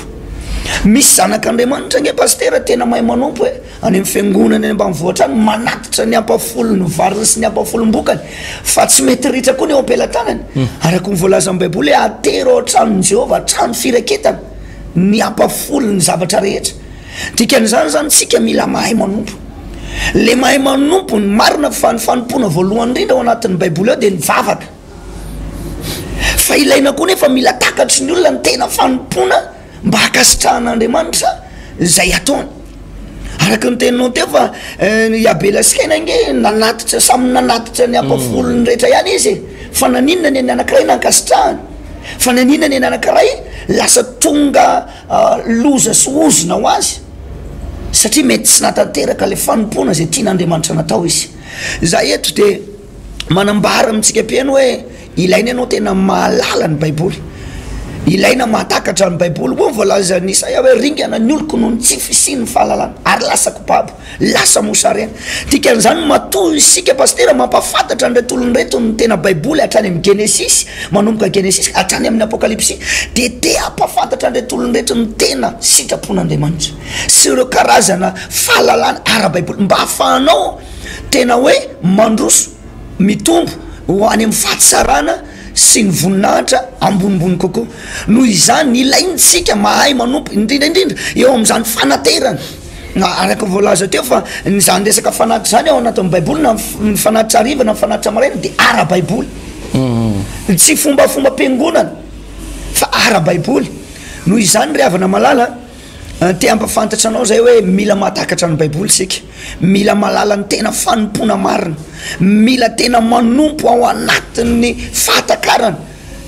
B: misy zanak'Andriamanitra ange pasteur tena mahay manompo e any amin'ny fiangonana any ambanivohitra any manatitra ny ampafolon'ny variny sy ny ampafolombokany fa tsy mety ritra koa ny eo am-pelatanany araka ny voalazan'ny baiboly hoe atero ao an-tranon'i Jehovah trano firaketana ny ampafolony ny zavatra rehetra dikan'izany izany tsika mila mahay manompo le mahay manompo ny marina fa ny fanompoana voalohany indrindra ao anatin'ny baiboly ao dia ny vavaka fa ilaina koa nefa mila takatry ny olona ny tena fanompoana mba hakasitrahan'andriamanitra izay ataony Araka ny teninao teo fa i Abela sy Kaina ange nanatitra samy nanatitra ny ampavolony rehetra ihany izy e, fa naninona ny an'ny anankiray nankasitrahany? Fa naninona ny an'ny anankiray lasa tonga loza sy ozona ho azy? Satria mety tsy nahatanteraka ilay fanompoana izay tian'Andriamanitra natao izy. Za eto de. manambara amintsika mpihaino hoe ilaina ianao tena mahalala ny Baiboly. Ilaina mahatakatra ny Baiboly. Hoy ny voalazan'i Isaia hoe ringana ny oloko noho ny tsy fisian'ny fahalalana ary lasa kobabo, lasa mosarena. Dikan'izany, matoa isika pasitera mampahafantatra an'ireto olona ireto ny tena Baiboly hatrany amin'ny Genesisy, manomboka Genesisy hatrany amin'ny Apokalypsy, dia te hampahafantatra an'ireto olona ireto ny tena sitrapon'Andriamanitra sy ireo karazana fahalalana ara-baiboly mba hahafahanao tena hoe mandroso mitombo ho any amin'ny fahatsarana sy ny voninahitra ambonimbony kokoa. Noho izany, ilaintsika mahay manompo, indrindra indrindra eo amin'izany fanaterana. Araka ny voalaza teo fa izany resaka fanatitra izany ao anatin'ny Baiboly, na ny fanatitra hariva na ny fanatitra maraina, dia ara-baiboly. Tsy fombafombam-piangonana fa ara-baiboly. Noho izany ry havana malala a! Te hampafantatra anao izay hoe mila mahatakatra ny Baiboly isika, mila mahalala ny tena fanompoana marina, mila tena manompo ao anatin'ny fahatakarana.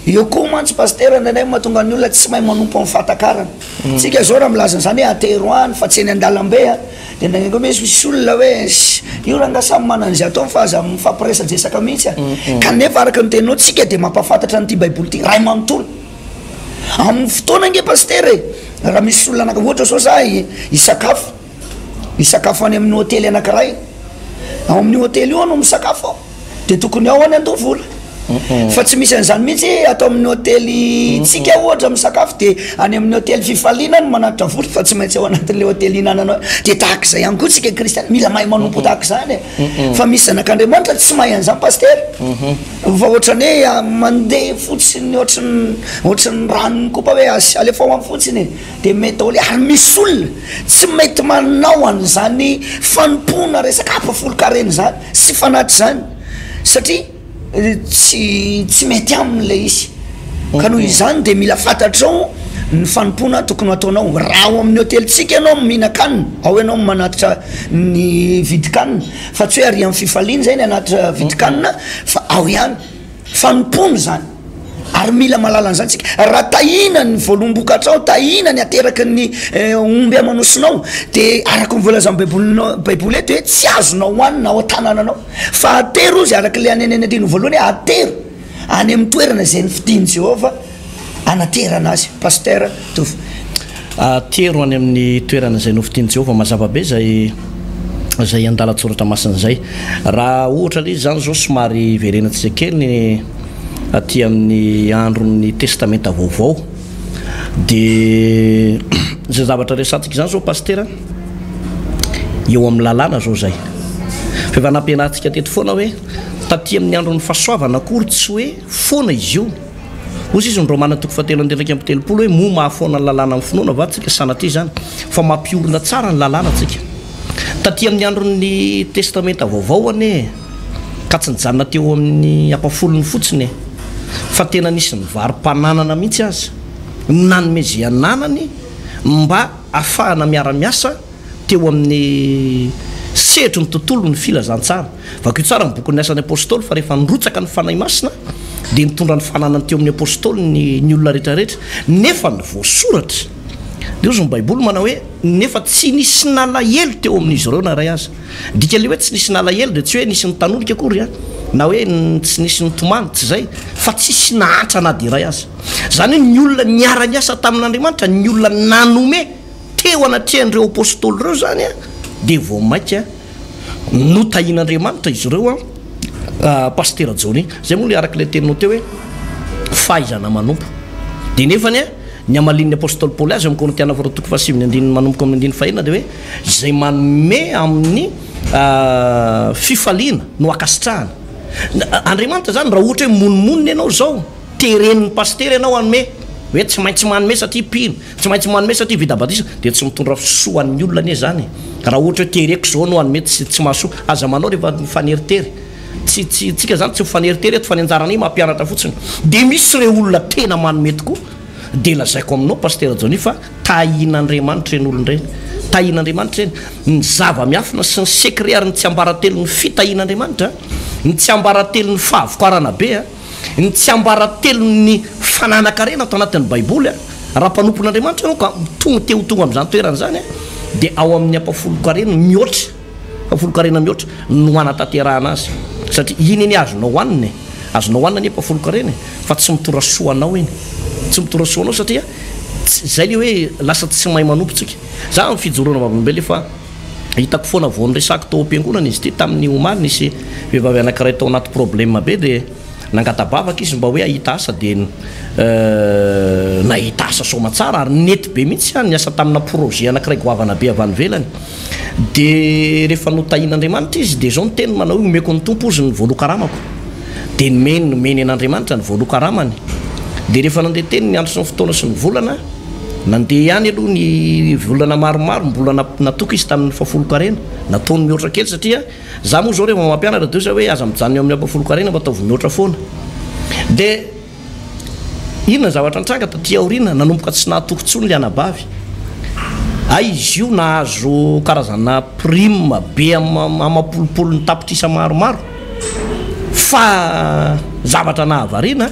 B: Eo koa mantsy Pasitera indraindray no mahatonga ny olona tsy mahay manompo amin'ny fahatakarana. Isika izao raha milaza an'izany hoe atero any fa tsy eny an-dalambe dia indraindray koa misy misy olona hoe ssy io rangah samy manana izay ataony fa aza mifampiresadresaka mihitsy a! Kanefa araka ny teninao, isika dia mampahafantatra an'ity Baiboly ity iray manontolo. Amin'ny fotoana ange Pasitera e! Raha misy olona anaka- ohatra zao za hisakafo, hisakafo any amin'ny hotely anakiray, ao amin'io hotely io aho no misakafo ao, de tokony ao aho ny handoa vola, fa tsy misy an'izany mihitsy ato amin'ny hotelintsika ohatra misakafo de any amin'ny hotely fifaliana aho no manatitra vola fa tsy maintsy ao anatin'le hotely ihinananao, de tahaka izay ihany koa tsika kristiana, mila mahay manompo tahaka izany e! Fa misy zanak'Andriamanitra tsy mahay an'izany Pasitera fa ohatran'ny hoe mandeha fotsiny ohatran'ny ohatran'ny ranon'ny kopa hoe asi- alefa ao any fotsiny e, dia mety daholo ary misy olona tsy mety manao an'izany fanompoana resaka afo folon-karena izany sy fanatitra izany satria tsy tsy mety aminy ilay izy ka noho izany dia mila fantatrao ny fanompoana tokony hataonao raha ao amin'ny hotelintsika ianao no mihinan-kanina ao ianao no manatitra ny vidin-kanina fa tsy hoe ary amin'ny fifaliana izay ny hanatitra vidin-kanina fa ao ihany fanompoana izany ary mila mahalala an'izany isika raha tahiana ny voalom-bokatrao tahiana ny ateraky ny omby aman'osinao dia araka ny voalazan'ny baibolinao baiboly eto hoe tsy azonao hohanina ao an-tanananao Fa atero ozy, araka ilay an'ny any anatrehanao voalohany hoe atero any amin'ny toerana izay nofidin'i Jehovah hanaterana azy. Pasteur Tovo. Atero
A: any amin'ny toerana izay nofidin'i Jehovah. Mazava be izay izay andalan-tsoratra masina izay. Raha ohatra ilay izy izany izao, somary hiverenantsika kely ny aty amin'ny andron'ny Testamenta Vaovao. Dia izay zavatra resatsika izany izao Pasitera, eo amin'ny lalàna izao izay. Fa efa nampianarintsika teto foana hoe taty amin'ny andron'ny fahasoavana akory tsy hoe foana izy io. Hoy sisa ny Romana toko fahatelo andininy iraika amby telopolo hoe moa mahafoana ny lalàna amin'ny finoana va tsika? Sanatria izany fa mampiorina tsara ny lalàna tsika. Taty amin'ny andron'ny Testamenta Vaovao anie. Ka tsy nijanona teo amin'ny ampafolony fotsiny e, fa tena nisy nivarom-pananana mihitsy aza no nanome izay ananany mba hahafahana miara-miasa teo amin'ny sehatry ny tontolon'ny filazantsara. Vakio tsara ny bokin'ny Asan'ny Apostoly fa rehefa nirotsaka ny Fanahy Masina dia nitondra ny fananany teo amin'ny Apostoly ny ny olona rehetrarehetra nefa ny voasoratra. Ndrozy ny Baiboly manao hoe, Nefa tsy nisy nalahelo teo amin'izy ireo na iray aza. Dikan'ilay hoe tsy nisy nalahelo dia tsy hoe nisy nitanonika akory an, na hoe tsy nisy nitomany, tsy izay, fa tsisy nahantra na dia iray aza. Izany hoe ny olona niara-niasa tamin'Andriamanitra, ny olona nanome teo anatrehan'ireo apostoly ireo izany an, dia vao mainka notahian'Andriamanitra izy ireo an, Pasitera Johnny. Izay moa ilay araka ilay teninao teo hoe fahaizana manompo. Dia nefany an, ny hamalian'ny apostoly Paoly azy ao amin'ny Korintiana faharoa toko fahasivy ny andininy manomboka amin'ny andininy fahenina dia hoe. izay manome amin'ny fifaliana no ankasitrahana. Andriamanitra izany raha ohatra hoe monimonina ianao izao, teren'ny pasitera ianao hanome hoe tsy maintsy manome satria mpino, tsy maintsy manome satria vita batisa, dia tsy mitondra fisoa an'ny olona anie izany e! Raha ohatra hoe tereko izao no hanome tsy tsy mahasoa, aza manao rehefa mifaneritery, tsy tsy tsika izany tsy mifaneritery eto fa ny anjaranay mampianatra fotsiny. Dia misy ireo olona tena manome tokoa, dia lazaiko aminao pasitera Johnny fa Tahian'Andriamanitra ireny olona ireny. Tahian'Andriamanitra ireny. Ny zava-miafina sy ny secret ary ny tsiambaratelon'ny fitahian'Andriamanitra, ny tsiambaratelon'ny fahavokarana be, ny tsiambaratelon'ny fananan-karena ato anatin'ny Baiboly, raha mpanompon'Andriamanitra ianao ka tonga te ho tonga amin'izany toerana izany dia ao amin'ny ampahafolon-karena mihoatra Folon-karena mihoatra no hanatanterahana azy satria iny anie azonao hohanina e! Azonao hohanina anie pa folon-karena e! Fa tsy mitora soa anao iny. Tsy mitora soa anao satria tsy, zay le hoe lasa tsy mahay manompo tsika. Za am fijoroana vavolombelona efa hitako foana vao niresako tao am-piangonana izy ity tamin'ny omaly nisy vehivavy anankiray tao anaty problème be dia nangata-bavaka izy mba hoe hahita asa dia nahita asa soamantsara ary nety be mihitsy an ny asa tamina projet anankiray goavana be avy any ivelany. Dia rehefa notahian'Andriamanitra izy, dia izao ny teniny, manao hoe, Omeko ny Tompo, hozy, ny voaloha-karamako. Dia nomeny, nomeny an'Andriamanitra ny voaloha-karamany. Dia rehefa nandeha teny ny andro sy ny fotoana sy ny volana, nandeha ihany aloha ny volana maromaro, mbola na- natoky izy tamin'ny fahafolon-karena. Nataony mihoatra kely satria, izaho moa izao rehefa mampianatra dia hoy izaho hoe, aza mijanona eo amin'ny ampahafolon-karena fa ataovy mihoatra foana. Dia. Inona ny zavatra nitranga taty aoriana? Nanomboka tsy nahatoky intsony ilay anabavy. Hay izy io nahazo karazana prime be amam-polopolony tapitrisa maromaro, fa zavatra nahavariana,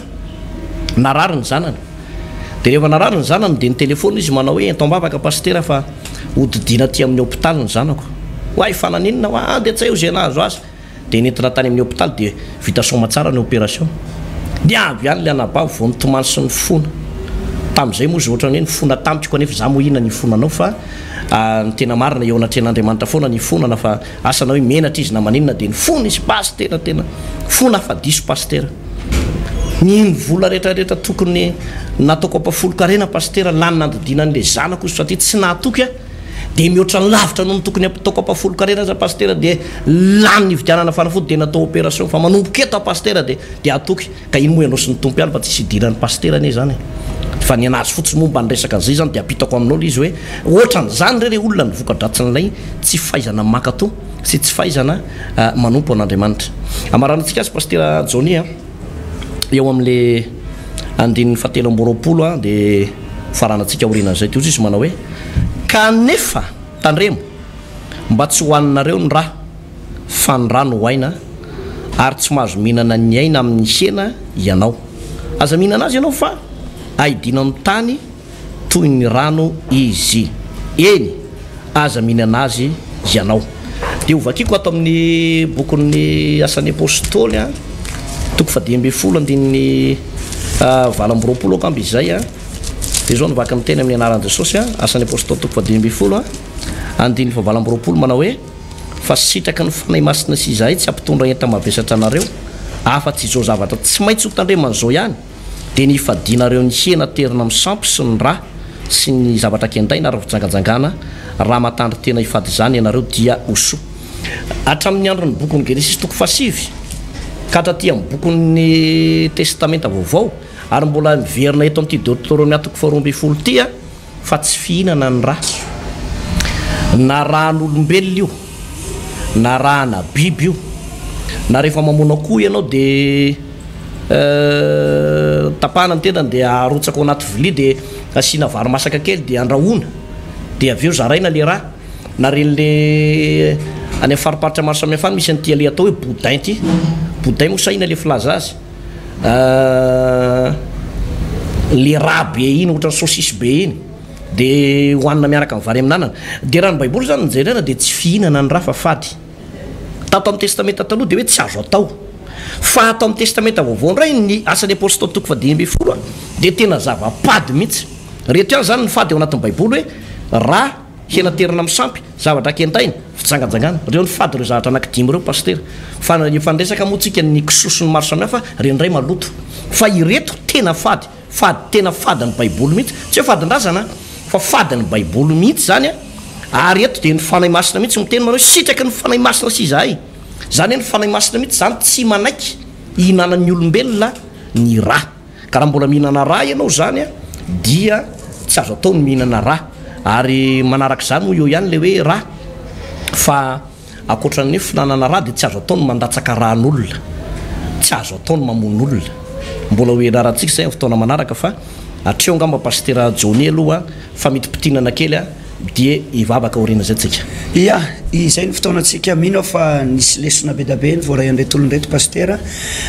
A: narary ny zanany. Dia rehefa narary ny zanany dia nitelefona izy manao hoe, ento am-bavaka Pasitera fa hodidiana aty amin'ny hopitaly ny zanako. Oay, fa naninona hoa? Dia tsy hay ho izay nahazo azy. Dia nentina tany amin'ny hopitaly dia vita soamatsara ny operation. Dia avy ihany ilay anabavy vao nitomany sy nifona. Tamin'izay moa izy ohatrany hoe nifona tamiko kanefa izaho moa inona ny hifona anao fa ny tena marina eo anatrehan'Andriamanitra foana ny hifonana fa asa na hoe menatra izy na maninona dia nifona izy Pasitera tena fona fa diso Pasitera ny vola retraretra tokony nataoko ampafolon-karena Pasitera lany nandodiana an'ilay zanako satria tsy nahatoky aho dia mihoatra lavitra noho ny tokony hataoko ampahafolon-karena aza Pasitera dia lany nividianana fanafody dia natao opération fa manomboka eto aho Pasitera dia dia hatoky ka iny moa ianao sy ny Tompo ihany fa tsisy hidiran'ny Pasitera anie izany e fa ny an'azy fotsiny moa mba ny resaka an'izay izany dia ampitako aminao ilay izy hoe ohatran'izany re ilay olona ny voka-dratsin'ilay tsy fahaizana mankatoa sy tsy fahaizana manompo an'Andriamanitra. Ambaranantsika azy Pasitera Johnny a. eo amin'le andininy fahatelo amby roapolo a de faranatsika aorianan'izay de ohatry izy manao hoe kanefa tandremo mba tsy ho aninareo ny ra fa ny ra no ho aina ary tsy mahazo mihinana ny aina amin'ny hena ianao aza mihinana azy ianao fa ahidiana amin'ny tany toy ny rano izy. Eny, aza mihinana azy ianao. Dia hovakiko ato amin'ny bokin'ny Asan'ny Apostoly, toko fadimy ambin'ny folo, andininy valo amby roapolo angamba izay. Dia izao no vaky ny teny amin'ny anaran'i Jesosy, Asan'ny Apostoly toko fadimy ambin'ny folo, andininy fahavalo amby roapolo, manao hoe, Fa sitraky ny Fanahy Masina sy izahay tsy hampitondra enta-mavesatra anareo, afa-tsy izao zavatra tsy maintsy hotandreman'izao ihany, dia ny hifadianareo ny hena aterina amin'ny sampy sy ny rà sy ny zavatra kendaina ary fijangajangana, raha matandry tena hifady izany ianareo dia ho soa. Hatramin'ny andron'ny bokin'ny Genesisy toko fahasivy ka hatraty amin'ny bokin'ny Testamenta Vaovao ary mbola miverina eto amin'ity Deoterônomia toko faharoa ambin'ny folo ity, fa tsy fihinana ny raso. Na ran'olombelona io, na rana biby io, na rehefa mamono akoho ianao de tapahana ny tendany de arotsaka ao anaty vilia de asiana vary masaka kely de andrahoina de avy eo zaraina le ra, na reny le any amin'ny fariparitra maro samihafa any misy an'ity le atao hoe boudin ity, boudin moa sa inona le filaza azy. le rà be iny ohatran'ny saucisse be iny de hohanina miaraka amin'ny vary amin'anana de raha ny baiboly zany no jerena de tsy fihinana ny rà fa fady tato amin'ny testamenta taloha de hoe tsy azo atao fa ato amin'ny testamenta vaovao indray ny asan'ny apostoly toko fahadimy ambin'ny folo a de tena zava-pady mihitsy rehetra ihany zany ny fady ao anatin'ny baiboly hoe rà Hena terina am sampy, zavatra kentaina, fijangajangana. Reo ny fady reo zahatra anaky dimy reo Pasitera. Fa efa niresaka moa tsika ny kisoa sy ny maro samihafa, reny ndray maloto. Fa ireto tena fady, fady tena fady ny baiboly mihitsy, tsy hoe fadin-drazana an, fa fady ny baiboly mihitsy zany an, ary eto dia ny Fanahy Masina mihitsy miteny manao hoe sitraky ny Fanahy Masina sy izahay. Zany hoe ny Fanahy Masina mihitsy zany tsy manaiky hihinanan'ny olombelona ny ra. Ka raha mbola mihinana rà ianao izany dia tsy azo atao ny mihinana rà. Ary manaraka izany hoy eo ihany ilay hoe rà fa ankoatran'ny hoe fihinanana rà dia tsy azo atao ny mandatsaka ràn'olona, tsy azo atao ny mamono olona. Mbola ho ianarantsika izay amin'ny fotoana manaraka fa hatreo angamba Pasitera Johnny aloha famitimpitinana kely. Dia hivavaka aorian'izay tsika. Ia, izay
B: no fotoanantsika. Mino aho fa nisy lesona bedabe novoarahin'ireto olona ireto Pasitera.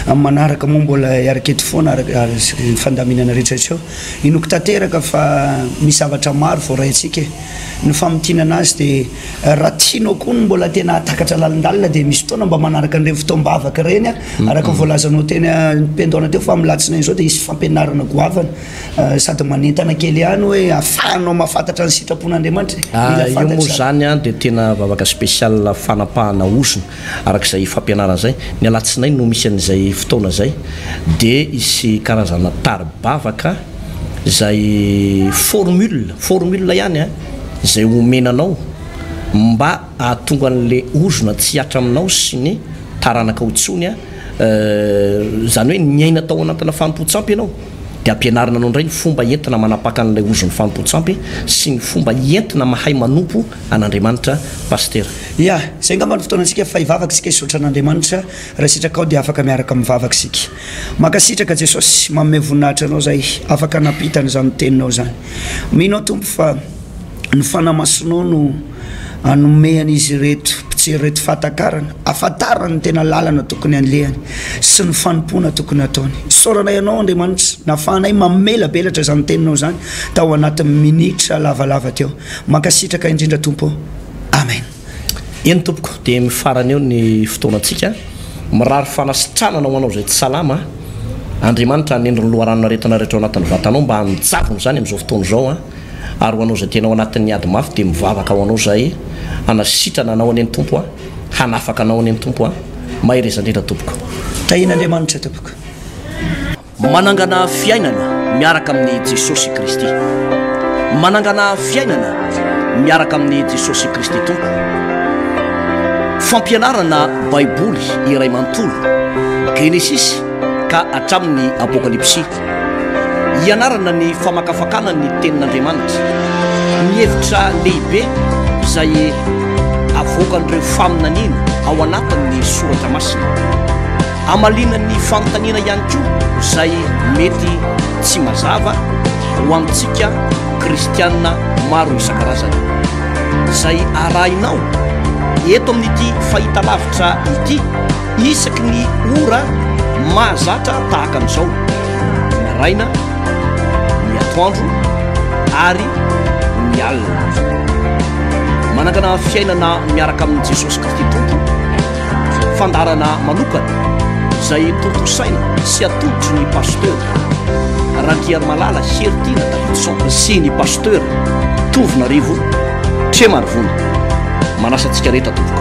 B: Amin'ny manaraka moa mbola hiaraka eto foana araka ny fandaminana rehetra hatreo. Inoako tanteraka fa misy zavatra maro voaraintsika e. Ny famintinana azy dia raha tianao koa ny mbola tena hahatakatra lalindalina dia misy fotoana mba manaraka an'ireny fotoam-bavaka ireny araka ny voalazanao teny am-piandohana teo fa amin'ny alatsinainy izao dia hisy fampianarana goavana. Sady manentana kely ihany hoe afahanao mahafantatra ny sitrapon'Andriamanitra e. Mila fantatra izany. Io moa
A: izany dia tena vavaka spécial fanapahana hozona araka izay fampianarana izay. Ny alatsinainy no misy an'izay fotoana izay dia hisy karazana tari-bavaka izay formule, formule ihany a, izay omena anao mba hahatonga an'ilay ozona tsy hihatra aminao sy ny taranakao intsony a, izany hoe niaina tao anatina fanompoan-tsampy ianao. dia ampianarina anao indray ny fomba entina manapaka an'ilay ozon'ny fanompoan-tsampy sy ny fomba entina mahay manompo an'Andriamanitra Pasitera. Ia, izay angamba
B: no fotoanantsika fa hivavaka isika hisaotra an'Andriamanitra, raha sitrakao dia afaka miaraka mivavaka isika. Mankasitraka Jesosy, manome voninahitra Anao izahay afaka nampita an'izany Teninao izany. Mino aho Tompo fa. Ny Fanahy Masinao no hanome an'izy ireto mpijery ireto fahatakarana, hahafantarany ny tena lalana tokony handehany sy ny fanompoana tokony hataony. Isaorana Ianao, Andriamanitra, nahafahanay mamelabelatra izany Teninao izany tao anatin'ny minitra lavalava teo. Mankasitraka indrindra, Tompo ô. Amen. Eny
A: tompoko dia mifarana eo ny fotoanantsika, mirary fanasitranana ho anao izay tsy salama, Andriamanitra hanendry ny loharanon-aretina rehetra ao anatin'ny vatanao mba hanojavona izany amin'izao fotoana izao an! ary ho anao izay tena ao anatin'ny ady mafy dia mivavaka ho anao izahay hanasitrana anao anie ny Tompo an! hanafaka anao anie ny Tompo an! mahereza indrindra tompoko. Tahian'Andriamanitra
B: tompoko.
A: Manangana fiainana miaraka amin'i Jesosy Kristy. Manangana fiainana miaraka amin'i Jesosy Kristy Tompo. Fampianarana Baiboly iray manontolo, Genesisy ka hatramin'ny Apokalypsy. Ianarana ny famakafakana ny Tenin'Andriamanitra. Ny hevitra lehibe izay avoakan'ireo faminaniana ao anatin'ny Soratra Masina. Hamaliana ny fanontaniana ihany koa izay mety tsy mazava ho amintsika kristianina maro isan-karazany. Izay arahinao eto amin'ity fahitalavitra ity isaky ny ora mahazatra tahaka an'izao, ny maraina, ny atoandro ary ny alina. Manangana fiainana miaraka amin'i Jesosy Kristy Tompo. Fandaharana manokana izay tontosaina sy atolotry ny Pasteur Randriarimalala Heritiana Davidson sy ny Pasteur Tovonarivo Tremarivony. Manasa antsika rehetra tompoko.